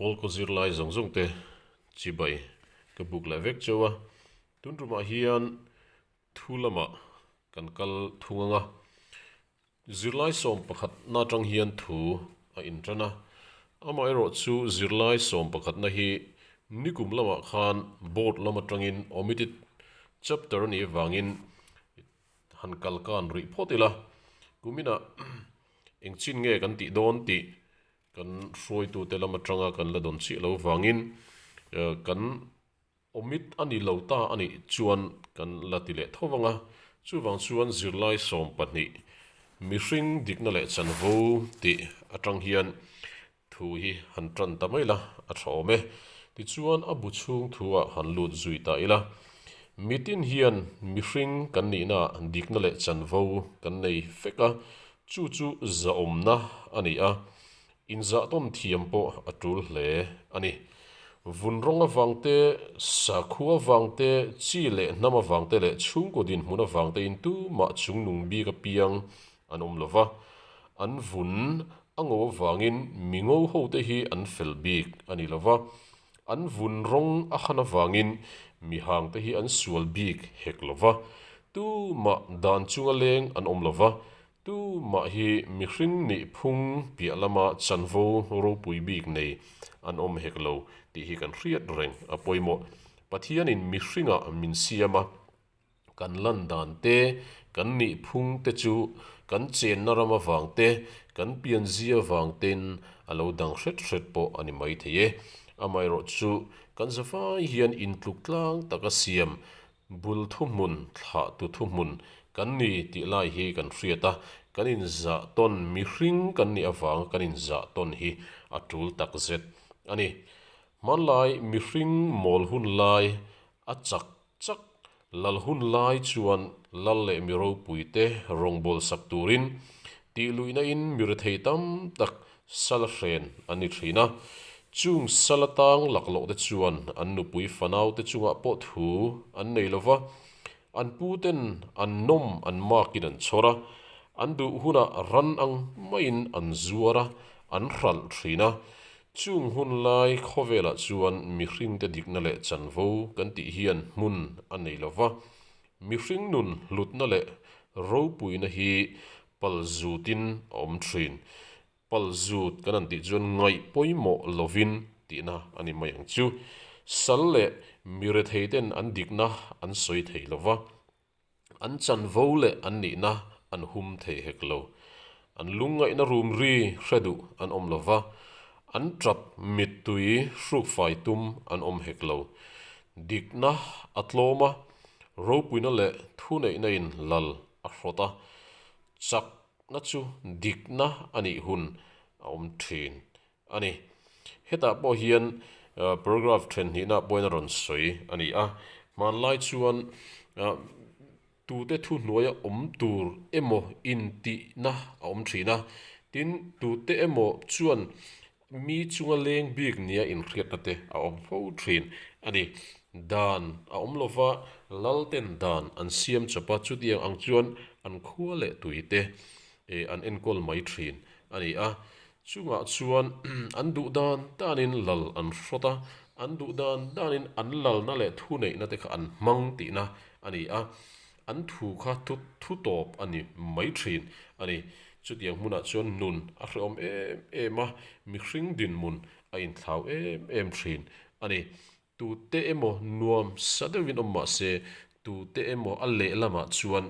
Pawlkaw zirlai zawng zawng te chibai ka buk leh vek cheu a, tun tumah hian thu lamah kan kal thung anga, zirlai sawm pakhat na tang hian thu a in tan a, amaherawh chu zirlai sawm pakhat na hi nikum lamah khan board lama tangin omitted chapter a nih avangin han kal kan rih phawt ila, kuminah engchin nge kan tih dawn tih kan hruaitute lam atanga kan la dawn chiah lo vangin kan awmit a ni lo ta a nih chuan kan la ti leh tho vang a. Chuvang chuan zirlai sawm pahnih mihring dikna leh chanvo tih atang hian Thu hi han tan ta mai la, a thawm e. Tichuan a bu chhung thu-ah han lut zui ta ila. Mitin hian mihring kan nihnaah dikna leh chanvo kan nei fek a, chu chu zahawmna a ni a. Inzahtawn thiam pawh a tul hle a ni. Vun rawng avang te, sakhua avang te, chi leh hnam avang te leh chhungkaw dinhmun avang tein tumah chungnung bik apiang An awm lo va, an vun a ngo avangin mi ngo hote hi an fel bik a ni lo va, an vun rawng a han avangin mi hangte hi an sual bik hek lo va, tu mah dan chunga leng an awm lo va, tu mah hi mihring nih phung piah lama chanvo ropui bik nei an awm hek lo tih hi kan hriat reng a pawimawh. Pathianin mihringah min siam a. kan lan dan te, kan nih phung te chu kan chenna ram avang te, kan pianzia avang te'n a lo dang hret hret pawh a ni maithei e. Amaherawh chu, kan zavai hian intluk tlang taka siam, bul thuhmun, thlah tu thuhmun kan ni tih lai hi kan hriat a, kan inzah tawn mihring kan nih avanga kan inzah tawn hi a tul takzet a ni. Hmanlai mihring mawl hun lai a chak Chak, Lal hun lai chuan Lal leh mi ropui te rawngbawlh sak turin tih luihna in mi rethei tam tak Sala hren an ni thin a. Chung Sala tang lak loh te chuan an nupui fanau te chungah pawh thu an nei lo va. An pu ten an nawm an mak in an chhawr a, an duh hunah ran ang maiin an zuar a, an hralh thin a. Chung hun lai khawvelah chuan mihring te dikna leh chanvo kan tih hian hmun a nei lo va, mihring nun hlutna leh ropuina hi pal zutin a awm thin. Pal zut kan an tih chuan ngaih pawimawh lovin tihna a ni mai ang chu. Sal leh mi rethei ten an dikna an sawi thei lo va. An chanvo leh an nihna an hum thei hek lo. An lungngaihna rumri hre duh an awm lo va, an ṭap mittui hruk fai tum an awm hek lo. Dikna a tlawm a, ropuina leh thuneihna in lal a hrawt a, chakna chu dikna a nih hun a awm ṭhin A ni. Hetah pawh hian paragraph ṭhenhnihna pawhin a rawn sawi a ni a, hmanlai chuan tute thu hnuaia awm tur emaw intihna a awm ṭhin a, tin, tute emaw chuan mi chunga leng bik nia inhriatna te a awm fo ṭhin a ni. Dan a awm lova Lalten dan an siam chawp a, chutiang ang chuan an khua leh tuite an enkawl mai ṭhin a ni a, Chungah chuan an duh dan danin lal an hrawt a, an duh dan danin an lalna leh thu neihna te kha an hmang tihna a ni a, an thu kha thu tawp a ni mai thin a ni. Chutiang hmunah chuan nun a hrehawm em em a, mihring dinhmun a inthlau em em thin a ni. Tute emaw nuam sa deuhin awm mah se, tute emaw a leh lamah chuan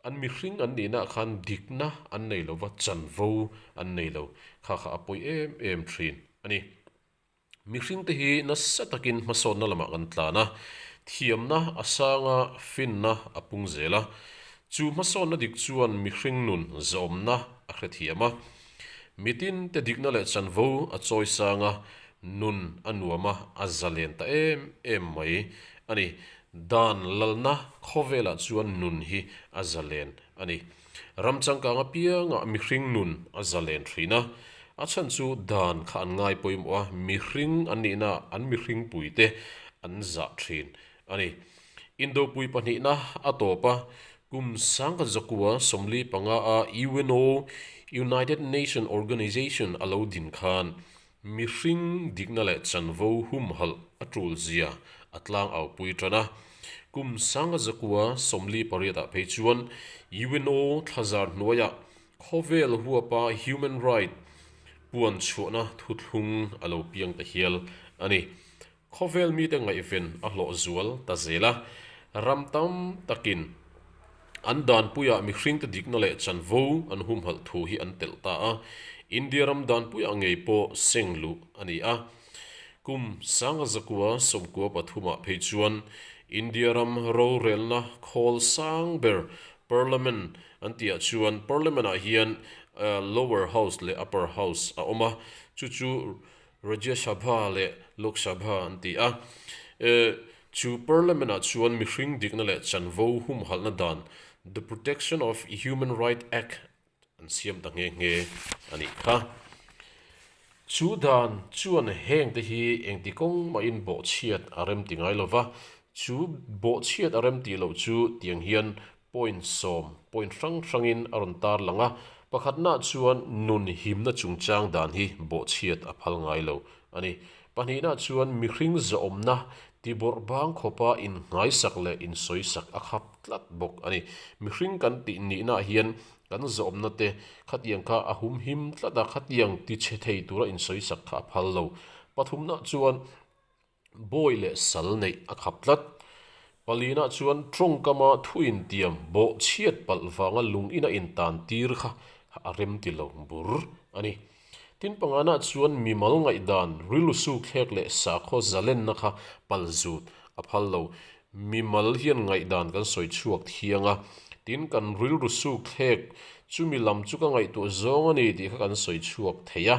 an mihring an nihnaah khan dikna an nei lo va, chanvo an nei lo kha kha a pawi em em thin a ni. Mihringte hi nasa takin hmasawnna lamah kan tlan a, thiamna a sanga finna a pung zel a. Chu hmasawnna dik chuan mihring nun zawmna a hrethiam a. Mitin te dikna leh chanvo a chawi sang a, nun a nuam a, a za len ta em em mai a ni. Dan lalna khawvelah chuan nun hi a za len a ni. Ram changkang apiangah mihring nun a za len thin a. A chhan chu dan kha an ngai pawimawh a, mihring an nihnaah an mihringpuite an za thin a ni. Indopui pahnihna a tawp a, kum sangkhat zakua sawmli panga a UNO, United Nation Organization, a lo din khan mihring dikna leh chanvo humhalh a tulzia a tlangau pui tan a. Kum sangkhat zakua sawmli pariatah phei chuan UNO thlazar hnuaia khawvel huapa human right puan chhuahna thuthlung a lo piang ta hial a ni. Khawvel mite ngaihven a hlawh zual ta zel a, ram tam takin an danpuia mihringte dikna leh chanvo an humhalh thu hi an telh ta a, India ram danpuia ngei pawh seng luh a ni a. Kum sanga zakua sawmkua pathumah phei chuan India ram rorelna khawl sang ber Parliament an ti ah chuan Parliament ah hian Lower House leh Upper House a awm a, chu chu Rajya Sabha leh Lok Sabha an ti a. E, Chu Parliament-ah chuan mihring dikna leh chanvo humhalhna dan, The Protection of Human Rights Act, an siam ta nghe nghe a nih kha. Chu dan chuan heng te hi engti kawng mahin bawhchhiat a rem ti ngai lo va, chu bawhchhiat a rem tih loh chu tiang hian Point sawm, point hrang hrangin a rawn tar lang a, pakhatnah chuan nun himna chungchang dan hi bawhchhiat a phal ngai lo a ni. Pahnihna chuan mihring zawhawmna, tibawrh bang khawpa inhngaihsak leh insawisak a khap tlat bawk a ni. Mihring kan tih nihnaah hian kan zawhawmna te khatiang kha a hum him tlat a, khatiang tichhe thei tura insawisak kha a phal lo. Pathumna chuan. Bawi leh sal neih a khap tlat. Palina chuan tawngkama thu intiam bawh chhiat palh vanga lungin a intan tir kha a rem ti lo bur a ni. Tin Pangana chuan mimal ngaihdan, rilru sukthlek leh sakhaw zalenna kha pal zut a phal lo. Mimal hian ngaihdan kan sawi chhuak thiang a, tin kan rilru sukthlek chumi lam chu ka ngaihtuah zawng a ni tih kha kan sawi chhuak thei a.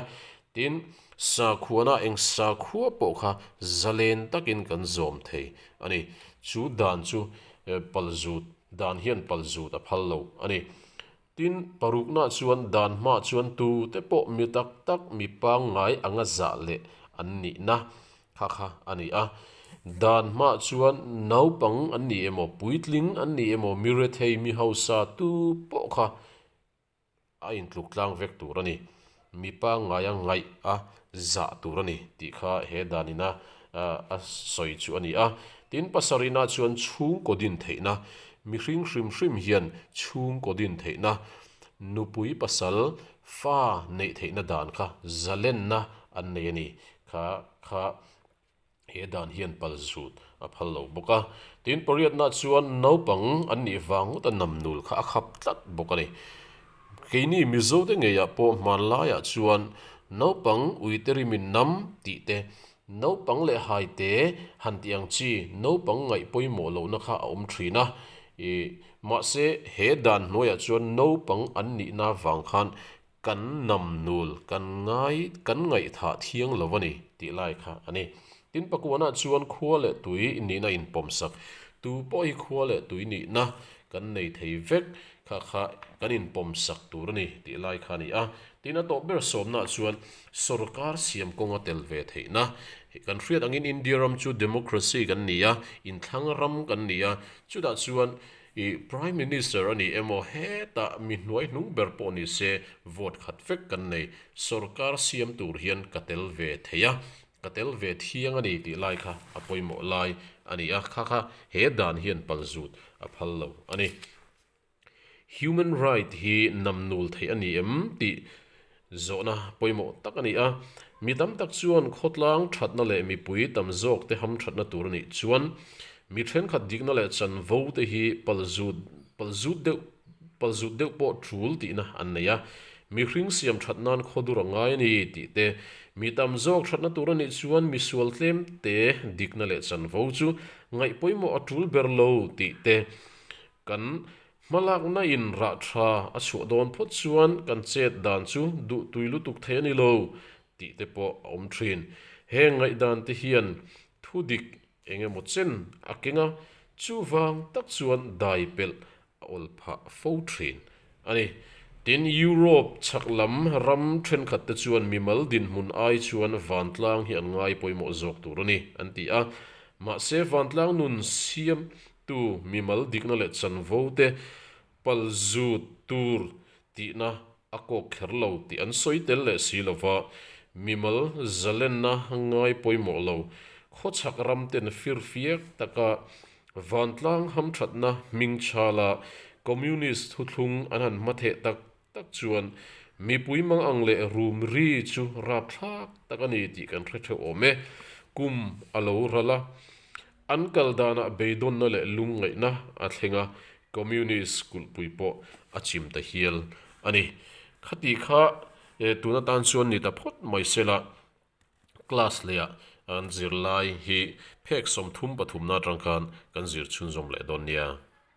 Tin, Sakhuana eng sakhua pawh kha zalen takin kan zawm thei a ni. Chu dan chu pal zut dan hian pal zut a phal lo a ni. Tin, parukna chuan dan hma chuan tute pawh mi tak tak, mi pangngai anga zah leh an nihna kha kha a ni a. Dan hma chuan naupang an nih emaw, puitling an nih emaw, mi rethei, mi hausa tu pawh kha a intluk tlang vek tur a ni. Mipa ngaia ngaih a zah tur a ni tih kha he danina a sawi chu a ni a. Tin, Pasarihna chuan chhungkaw din theihna, mihring hrim hrim hian chhungkaw din theihna, nupui pasal fa neih theihna dan kha zalenna an nei a ni kha kha. He dan hian pal zut a phal lo bawk a. Tin, pariatnah chuan naupang an nih vang ngawta nam nul kha a khap tlat bawk a ni. Keini Mizo te ngeiah pawh hmanlaiah chuan naupang uite rimin nam tih te, naupang leh haite han tih ang chi naupang ngaih pawimawh lohna kha a awm thin a. Mahse, he dan hnuaiah chuan naupang an nihna vang khan Kan nam nul kan ngai kan ngaihthah thiang lo va ni tih lai kha a ni. Tin pakuanah chuan khua leh tui nihna in pawm sak. Tu pawh hi khua leh tui nihna kan nei thei vek kha kha kan in pawm sak tur a ni tih lai kha a ni a. Tin a tawp ber sawmnah chuan sorkar siam kawnga tel ve theihna kan hriat angin India ram chu democracy kan ni a, inthlâng ram kan ni a, chutah chuan I Prime Minister a ni emaw heta mi hnuai hnung ber pawh ni se vote khat vek kan nei, sorkar siam tur hian ka tel ve thei a, ka tel ve thiang a ni tih lai kha a pawimawh lai a ni a, kha kha he dan hian pal zut a phal lo a ni. Human right hi namnul theih a ni em tih Zawhna pawimawh tak a ni a, mi tam tak chuan khawtlang thatna leh mipui tam zawk te ham thatna tur a nih chuan mi thenkhat dikna leh chanvo te hi pal zut pal zut deuh pal zut deuh pawh tul tihna an nei a, mi hring siam that nan khaw dur a ngai a ni tih te mi tam zawk thatna tur a nih chuan misual tlem te dikna leh chanvo chu ngaih pawimawh a tul ber lo tih te kan Hmalakna in rah tha a chhuah dawn phawt chuan kan chet dan chu duh tui lutuk thei a ni lo tih te pawh a awm thin. He ngaihdan te hian thu dik eng emaw chen a keng a, chuvang tak chuan dai pelh a awl phah fo thin a ni. Tin, Europe chhak lam ram thenkhat te chuan mimal dinhmun ai chuan vantlang hi an ngai pawimawh zawk tur a ni, an ti a. Mahse, vantlang nun siam Tu mimal dikna leh chanvo te pal zut tur tihna a kawk kher lo tih an sawi tel leh si lova, mimal zalenna ngai pawimawh lo, khawchhak ramten firfiak taka vantlang hamthatna hmingchhala Communist thuthlung an han hmatheh tak tak chuan mipui mang ang leh rum ri chu rap thlak tak a ni tih kan hre theuh awm e. Kum a lo ral a, an kal danah beidawnna leh lungngaihna a thleng a, Communist kulhpui pawh a chim ta hial a ni. Khati kha eh tun atan chuan ni ta phawt mai sela class leiah an zir lai hi phek sawmthum pathumna atang khan kan zir chhunzawm leh dawn nia.